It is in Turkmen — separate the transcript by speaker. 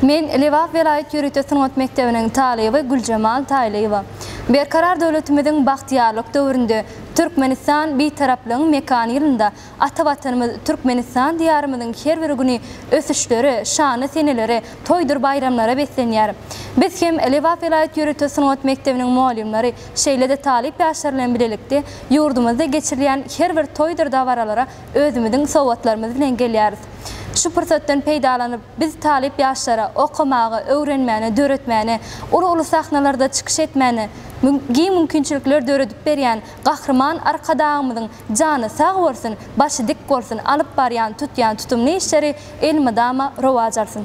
Speaker 1: Men Lebap welaýat ýörite sungat mekdebiniň talyby Güljemal Taýlyýewa. Berkarar döwletimiziň bagtyýarlyk döwründe, Türkmenistan Bitaraplygyň mekany ýylynda ata Watanymyz Türkmenistan Diýarymyzyň her bir güni ösüşlere, şanly senelere, toýdur baýramlara beslenýär. Biz hem Lebap welaýat ýörite sungat mekdebiniň mugallymlary, şeýle-de talyp ýaşlar bilen bilelikde ýurdumyzda geçirilýän her bir toýdur dabaralara özümiziň sowgatlarymyz bilen gelýäris. Şu pursatdan peýdalanyp, biz talyp ýaşlara okamaga, öwrenmäne, döretmäne, uly-uly sahnalarda çykyş etmäne giň mümkinçilikler döredip berýän Gahryman Arkadagymyzyň jany sag bolsun, başy dik bolsun, alyp barýan, tutýan tutumly işleri elmydama rowaç alsyn!